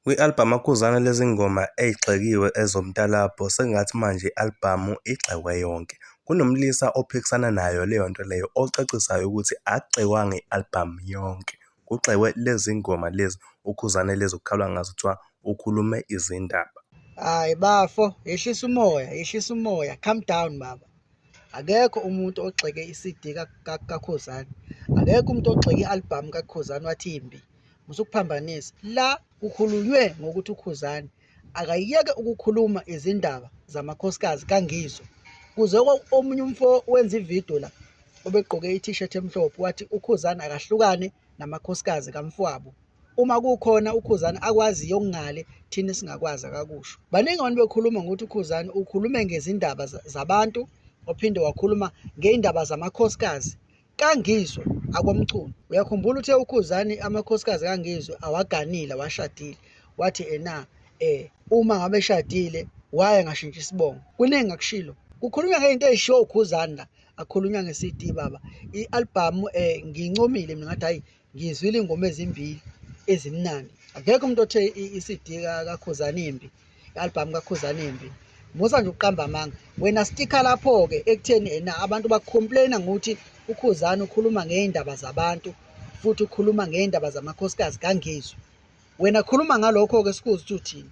Kwi-albhamu akhuzana lezingoma eyigxekiwe ezomtalabho sengathi manje i-albhamu igxekwe yonke. Kunomlisa ophikisana nayo leyo nto leyo ocacisayo ukuthi akugxekwanga i-albhamu yonke, kugxekwe lezi ngoma lezi ukhuzane lezi okukhalwa ngazo kuthiwa ukhulume izindaba. Hhayi bafo yehlisa umoya, yehlisa umoya, calm down baba. akekho umuntu ogxeke i-CD kaKhuzani akekho umuntu ogxeke i-albhamu kaKhuzani wathi imbi musukuphambanisa la kukhulunywe ngokuthi uKhuzani akayeke ukukhuluma izindaba zamakhosikazi kangizwe kuze omunye umfo wenza ividiyo la obegqoke i-t-shirt emhlophe wathi ukhuzani akahlukane namakhosikazi kamfwabo uma kukhona ukhuzani akwaziyo okungale thina singakwazi akakusho baningi abantu bekhuluma ngokuthi ukhuzani ukhulume ngezindaba zabantu ophinde wakhuluma ngey'ndaba zamakhosikazi kangizwe akomculo uyakhumbula uthe ukhuzani amakhosikazi kangizwe awaganile awashadile wathi ena eh uma ngabe eshadile waye ngashintsha isibongo kuningi akushilo kukhulunywa ngey'nto ey'shiwo ukhuzani la akhulunywa nge CD baba i album eh ngincomile mina ngathi hayi ngizwile ingoma ezimbili ezimnandi akekho umuntu othe i CD kaKhuzani imbi i album kaKhuzani imbi musa nje uqamba amanga wena sticker lapho ke ekutheni ena abantu bacomplaina ngokuthi uKhuzani ukhuluma ngeindaba zabantu futhi ukhuluma ngeindaba zamakhosikazi kangizwe wena khuluma ngalokho ke sikuzi ukuthi uthini